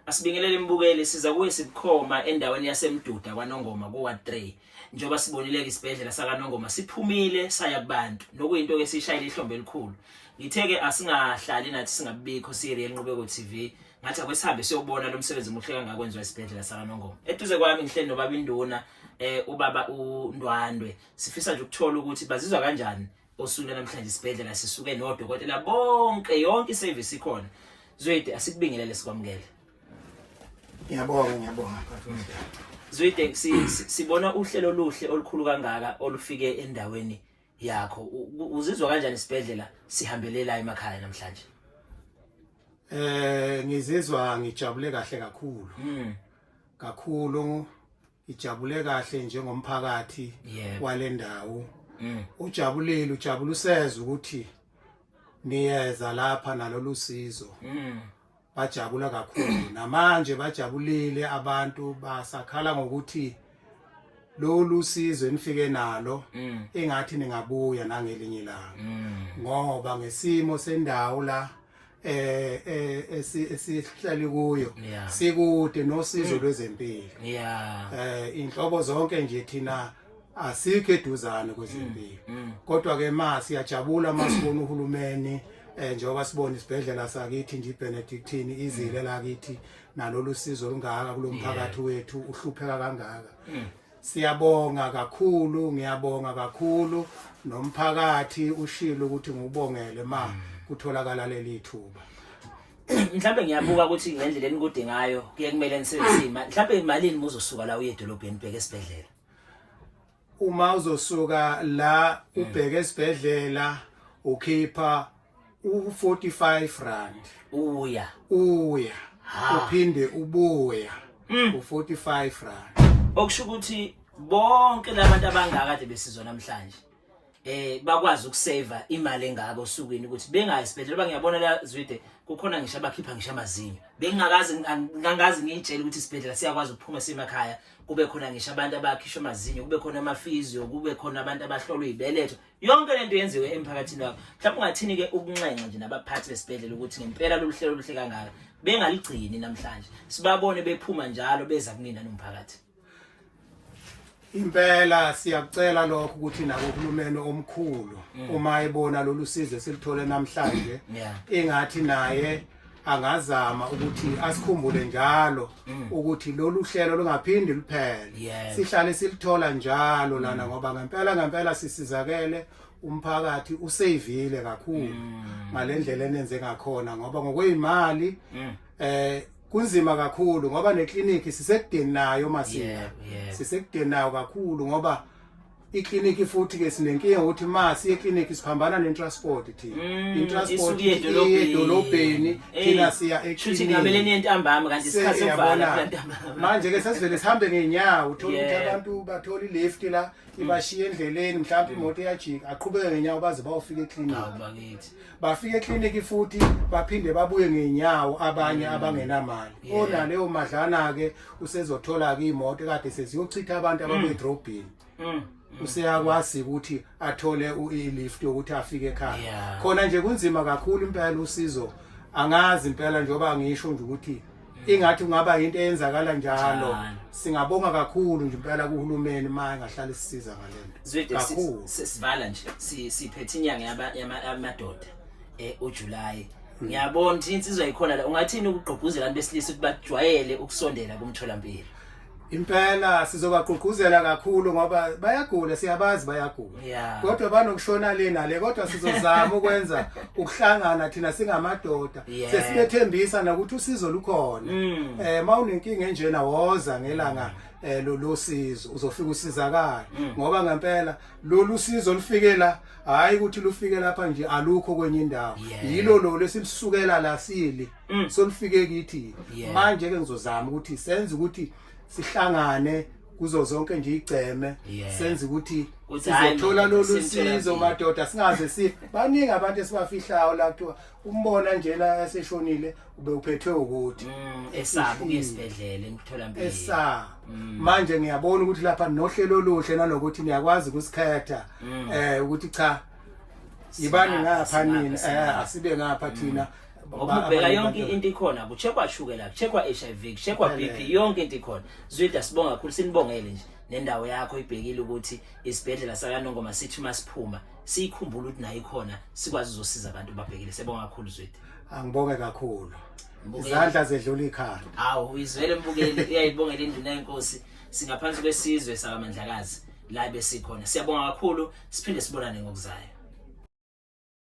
Asibingelele imbukeli siza kuye sibukhoma endaweni yaseMduda kwaNongoma kuWard 3 njengoba sibonileke isibhedlela sakaNongoma siphumile saya kubantu nokuyinto ke sishayile ihlombe elikhulu ngitheke asingahlali nathi singabikho siReal Nqubeko TV ngathi akwesihambe siyobona lo msebenzi muhle kangaka kwenziwa isibhedlela sakaNongoma eduze kwami ngihleli nobaba induna eh ubaba uNdwandwe sifisa nje ukuthola ukuthi bazizwa kanjani Osuku namhlanje isibhedlela sisuke nodokotela bonke yonke iservice ikhona. Zwede asikubingelele sikwamukele. Ngiyabonga ngiyabonga bafowethu. Zwide sibona uhlelo oluhle olukhulu kangaka olufike endaweni yakho. Uzizwa kanjani isibhedlela sihambelelayo emakhaya namhlanje? Eh ngizizwa ngijabule kahle kakhulu. Mm. Kakhulu ijabule kahle njengomphakathi yeah. walendawo mm. ujabulile ujabula useza ukuthi niyeza lapha nalolu sizo mm. bajabula kakhulu namanje bajabulile abantu basakhala ngokuthi lolu sizo enifike nalo mm. engathi ningabuya nangelinye ilanga mm. ngoba ngesimo sendawo la eh eh esihlali kuyo sikude nosizo mm. lwezempilo yeah eh inhlobo zonke nje thina asikho eduzane kwezempilo mm, mm. kodwa ke ma siyajabula masibona uhulumeni eh njengoba sibona isibhedlela sakithi nje iBenedictine izile la kithi nalolu sizo olungaka kulomphakathi wethu uhlupheka kangaka Siyabonga kakhulu ngiyabonga kakhulu nomphakathi ushilo ukuthi ngubongele ma mm. kutholakala leli thuba. Mhlawumbe ngiyabuka ukuthi ngendlela enikude ngayo kuye kumele nisebenzise imali. Mhlawumbe imalini muzosuka la uye edolobheni bheke esibhedlela. Uma uzosuka la ubheke esibhedlela ukhipha u-45 rand uya uya uphinde ubuya hmm. u-45 rand okusho ukuthi bonke labantu abangaka kade besizwa namhlanje eh bakwazi ukusave imali engaka osukwini ukuthi bengayi sibedlela ba ngiyabona la zwide kukhona ngisho abakhipha ngisho amazinyo bengingakazi ngangazi ngiyitshela ukuthi isibedlela siyakwazi ukuphuma semakhaya kube khona ngisho abantu abakhishwa amazinyo kube khona amafizio kube khona abantu abahlolwa ibeletho yonke lento yenziwe emphakathini wakho mhlawumbe ungathini ke ukunxenxa nje nabaphathi besibhedlela ukuthi ngempela lolu hlelo oluhle kangaka bengaligcini namhlanje sibabone bephuma njalo beza kunina nomphakathi impela siyakucela lokho ukuthi nabo uhulumeni omkhulu mm. uma ebona lolu sizo esilithole namhlanje ingathi naye angazama ukuthi asikhumbule njalo mm. ukuthi lolu hlelo lungaphindi luphele yes. sihlale silithola njalo lana mm. ngoba ngempela ngempela sisizakele umphakathi useyivile kakhulu mm. ngalendlela enenze ngakhona ngoba ngokwezimali mm. eh kunzima kakhulu ngoba neclinic sisekudeni nayo masina yeah, yeah. sisekudeni nayo kakhulu ngoba ikliniki futhi ke sinenkinga ukuthi ma siye ekliniki siphambana netransport thina mm, itransport iye edolobheni thina siya eklinikimanje ke sesivele sihambe ngeenyawo uthole ukuthi abantu bathola ilefti la ibashiye endleleni mhlawumbe imoto iyajika aqhubeke ngeenyawo baze bayofika ekliniki bafika ekliniki futhi baphinde babuye ngenyawo abanye mm. abangenamali ona leyo madlana ke usezothola ke imoto kade seziyochitha abantu mm. ababedrobhini mm. useyakwazi ukuthi athole i-lift yokuthi afike ekhaya khona nje kunzima kakhulu impela usizo angazi impela njengoba ngisho nje ukuthi ingathi kungaba into eyenzakala njalo singabonga kakhulu nje impela kuhulumeni uma engahlala isisiza ngalento kakhulu sisivala nje siphethe inyanga yamadoda eh uJuly hmm. ngiyabona ukuthi insizwa ikhona la ungathini ukugqugquzela abantu besilisa ukuthi bajwayele ukusondela kumtholampilo impela sizobagqugquzela kakhulu ngoba bayagula siyabazi bayagula yeah. kodwa banokushona le nale kodwa sizozama ukwenza ukuhlangana thina singamadoda yeah. sesibethembisa nokuthi usizo lukhona mm. eh mawunenkinga enjena woza ngelanga mm. eh lolu sizo uzofika usizakala mm. ngoba ngempela lolu sizo lufikela hayi ukuthi lufike lapha nje alukho kwenye indawo yilo lo lesilisukela la sili mm. solifike kithi yeah. manje ke ngizozama ukuthi senze ukuthi sihlangane kuzo zonke nje igceme yeah. senze ukuthi sizothola lolu sizo madoda singaze si baningi abantu esibafihlayo la kuthiwa umbona njena eseshonile ube uphethwe ukuthi mm, esaba ukuyesibedlela emtholampilo esaba mm. manje ngiyabona ukuthi lapha nohlelo oluhle nalokuthi niyakwazi ukusikhetha mm. eh ukuthi cha yibani ngapha nini eh asibe ngapha thina mm. ngoba ubheka yonke into ikhona kucheckwa shukela kucheckwa HIV kucheckwa BP yonke into ikhona zwida sibonga kakhulu sinibongele nje nendawo yakho ibhekile ukuthi isibhedlela sakanongoma sithi masiphuma siyikhumbula ukuthi nayo ikhona sikwazi uzosiza abantu babhekile sebonga kakhulu zwida angibonge kakhulu izandla zedlula ikhanda awu uyizwele mbukeli uyayibongela induna yenkosi singaphansi kwesizwe sakamandlakazi la besikhona siyabonga kakhulu siphinde sibonane ngokuzayo